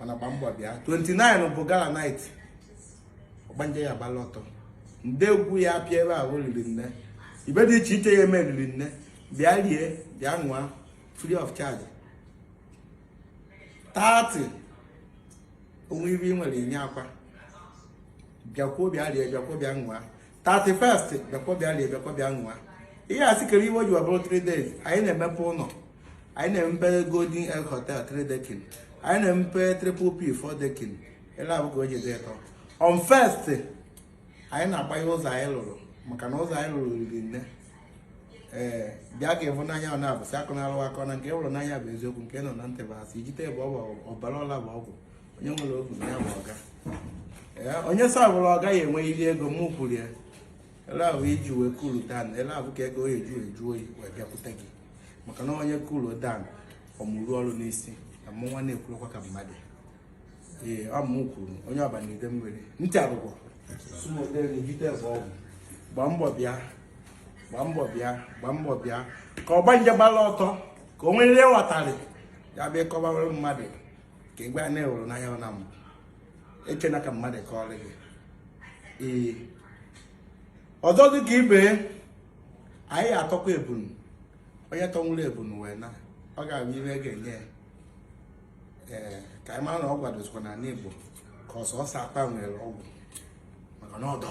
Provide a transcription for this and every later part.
mana gba mbọ bịa 29 bụ gala night ọgbanje ya agbalụ ọtọ ndị egwu ya apịa ebe ahụ riri nne ihe dị iche iche ya eme riri nne bịa rie bịa ṅụa free of charge 30 onwe ibe ị nwere inye akwa bịakwuo bịa rie bịakwuo bịa ṅụa 31st bịakwa bịa lie bịakwa bịa ṅụa ị ya asị kedụ ihe o ji bụrụ 3 days anyị na-emepe ụlọ anyị na-emepe golden egg hotel 3 decking anyị na-emepe triple p 4 decking ele ahụ ka o ji dị ịtọ on first anyị na-agbanye ụzọ anyị lụrụ maka na ụzọ anyị lụrụ riri nne ee bịa ka ị hụ n'anya ọ na-abụsị akụ na-alụ akọ na nke ị hụrụ n'anya bụ eziokwu nke a nụ na ntị bụ asị ijite bụ ọgwụ ọbara ọla bụ ọgwụ onye nwere ogu na ya bụ ọga onye sabụrụ ọga ya enwe iri ego mụ kwuru ya ele ahụ iji wee cool down ele ahụ ka ego eju eju oyi wee bịakwute gị maka na onye cool down ọ mụrụ ọrụ n'isi na mụ nwa na-ekwurukwa ka mmadụ ee ọ mụ kwuru onye ọba na ide mmiri ntị arụgwọ gbaa mbọ bịa gbaa mbọ bịa gbaa mbọ bịa ka ọgbanje gbala ọtọ ka o nwere ihe ghọtarị ya bịa kọba mmadụ ka igwe a na-ewere n'anya na m echena ka mmadụ kọọrọ gị ee ọzọ dị ka ibe anyị atọkwa ebunu onye tọnwụrụ ebunu wee na ọ ga-abụ ihe e ga-enye ee ka anyị mara na ọgwụ adịzikwa n'ala Igbo ka ọ sọsọ akpa nwere ọgwụ maka na ọdọ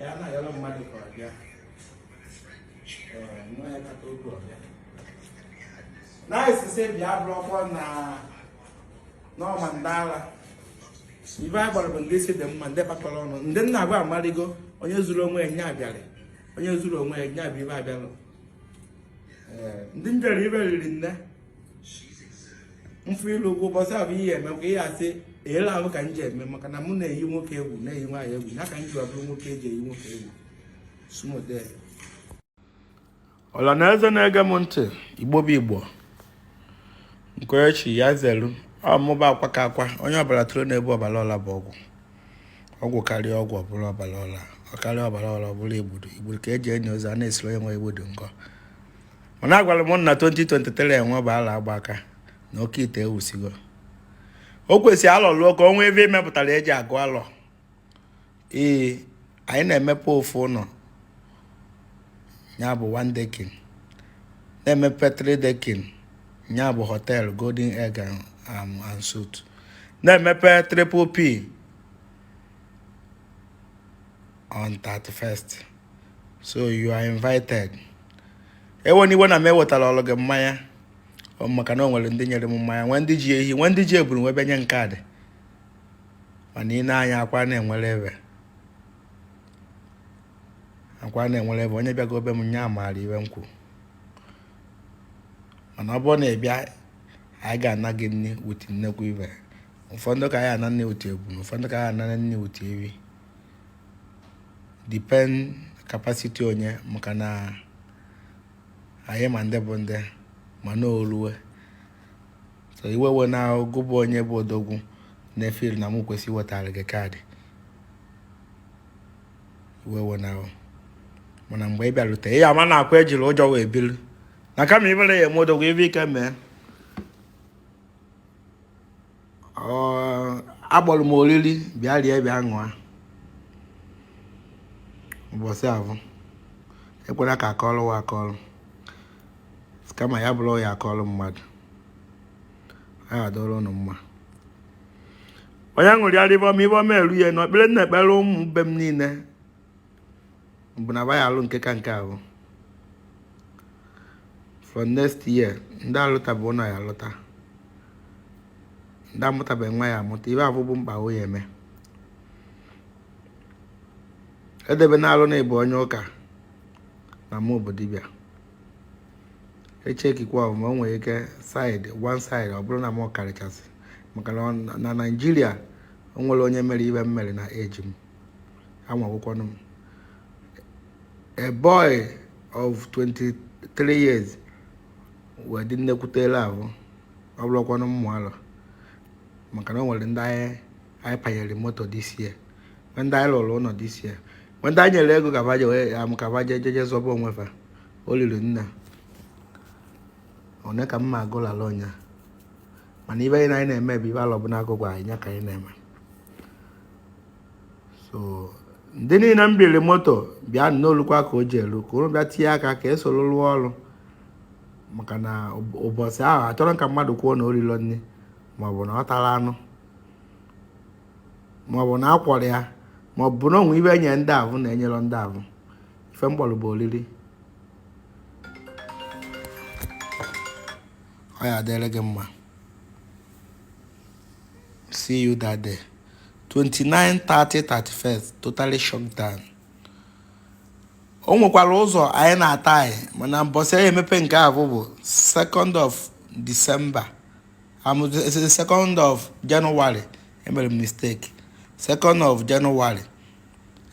ya na-ayọrọ mmadụ ka ọ bịa nwa ya kata oge ọ bịa na-esise bịa bụrụkwa na n'ọma ndị ala ibe anyị gbara bụ ndị isi dị mma ndị kpakọrọ ọnụ ndị nna agwa amarigo onye zuru onwe ya na-abịarị onye zuru onwe ya na-abịa ibe abịalụ ndị m jere ibe riri nne mfụ ilu ọgwụ ụbọchị ahụ ihe eme ka ihe asị ele ahụ ka m ji eme maka na mụ na-eyi nwoke egwu na-eyi nwaanyị egwu ya ka m ji abụrụ nwoke eji eyi nwoke egwu sumode ọla na eze na-ege m ntị igbo bụ igbo nkoechi ya zelu ọmụba akwa ka akwa onye ọbara tụrụ na-ebu ọbara ọla bụ ọgwụ ọgwụ karịa ọgwụ o buru ọbara ọla ọ karịa ọbara ọla o buru igbudu igbudu ka eji enye ozi a na-esiri onye nwe igbudu nkọ mana agwara m unu na 2023 enwe bụ ala agba aka na oke ite ewusigo o kwesịrị alọ luo ka o nwee ihe emepụtara eji agụ alọ ee anyị na-emepe ofu ụlọ ya bụ one decking na-emepe three decking ya bụ hotel golden egg um, and suite na-emepe triple p on 31st so you are invited ewena iwe na m ewetarọrọ gị mmanya maka na o nwere ndị nyere m mmanya nwee ndị ji ehi nwee ndị ji ebunu wee nye kaadị mana ị na-anya akwa na-enwere ebe akwa na-enwere ebe onye bịago be m nya amara ife m kwuru mana ọ bụrụ na ị bịa anyị ga-ana gị nni with nnekwu ife ụfọdụ ka anyị ana nni with ebunu ụfọdụ ka anyị anara nni with ehi depend capacity onye maka na anyị ma ndị bụ ndị mana o luwe so iwe ewena gị bụ onye bụ odogwu na-efeel na mụ kwesị iwetara gị kaadị iwe ewena o mana mgbe ị bịarute ị ya ama na ọkwa ejirọ ụjọ wee biri na kama ifere ya eme odogwu ife ike mee akpọrọ m oriri bịa rie bịa ṅụa ụbọchị ahụ ekwela ka akọrọ wa akọrọ kama ya bụrụ ya akọrọ mmadụ ọ adịrị ụnụ mma onye ṅụrịara ife ọma ife ọma eru ya na ekpere m na-ekpere ụmụ be m niile bụ na ya alụ nke ka nke ahụ from next year ndị alụtabeghị ụlọ ya alụta ndị amụtabeghị nwa ya amụta ife ahụ bụ mkpa ọ ya eme edebe na alụ na ị bụ onye ụka na mụ bụ dibịa echekikwa ọmụma o nwere ike side one side ọ bụrụ na m karịchasị maka na na naijiria o nwerọ onye mere ife m mere na age m anwawụkwanụ m a boy of 23 years wee dị nnekwute level ọ bụrọkwanụ mmụ alọ maka na o nwere ndị anyị panyere moto this year nwe ndị anyị lụrụ ụlọ this year nwe ndị anyị nyere ego ka va je wee am ka va je jeje zọba onwe fa o liri nna one ka mma agụlala ụnyaahụ mana ife anyị na anyị na-eme bụ ife alọ bụ n'akụkụ anyị nya ka anyị na-eme so ndị niile m biri moto bịanụ o lukwa ka o ji elu ka ụnụ bịa tinye aka ka e soro rụọ ọrụ maka na ụbọchị ahụ achọrọ ka mmadụ kwuo na o rirọ nni maọbụ na ọ tarọ anụ maọbụ na akwụrọ ya maọbụ na o nwe ife e nye ndị ahụ na enyerọ ndị ahụ ife m kpọrọ bụ oriri ọ ya adịrị gị mma see you that day 29 30 31 totally shut down o nwekwara ụzọ anyị na-ata anyị mana mbọsị anyị emepe nke ahụ bụ 2nd of December am 2nd of January emere m mistake 2nd of January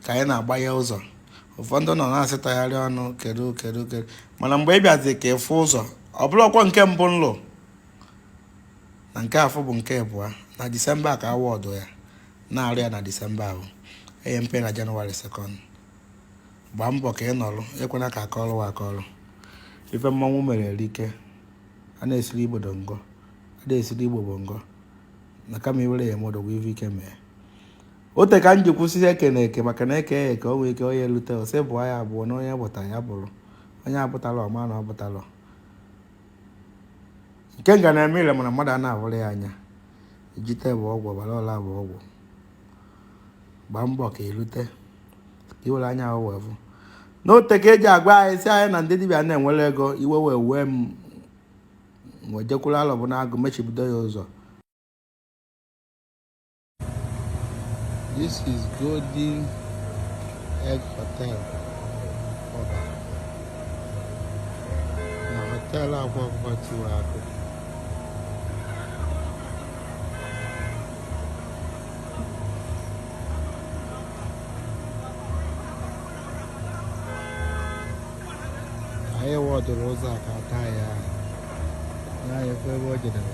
ka anyị na-agba ya ụzọ ụfọdụ nọ na-asịtagharị ọnụ kedu kedu kedu mana mgbe ị bịazi ka ị fụ ụzọ ọ bụrụkwa nke mbụ nlụ na nke afụ bụ nke abụọ na disemba ka awọdụ ya na-arụ ya na disemba ahụ enye mpe na January second gbaa mbọ ka ị nọrụ ekwena ka akọrọ gị akọrọ ife mmanwụ mere erike a na-esiri igbo dongo a na-esiri igbo bongo na kama i were ya eme odogwu ife ike mee ote ka m ji kwusisie ike na eke maka na eke eke o nwee ike onye elute ose bụ ya abụọ na onye bụta ya bụrụ onye abụtala ọma na ọ bụtala nke nga na-eme ile mana mmadụ a na-ahụrụ ya anya ijite bụ ọgwụ ọbara ọla bụ ọgwụ gbaa mbọ ka elute ka i were anya ahụ wee fụ n'ote ka eji agwa anyị si anyị na ndị dibịa na-enwere ego iwe wee wee m wee jekwuru alọ bụ na agụ mechibido ya ụzọ This is Golden Egg Hotel. Na hotel akwa akwa tiwara akụ. Anyị wọdụrụ ụzọ a ka taa ya na-efe ebe o jedere.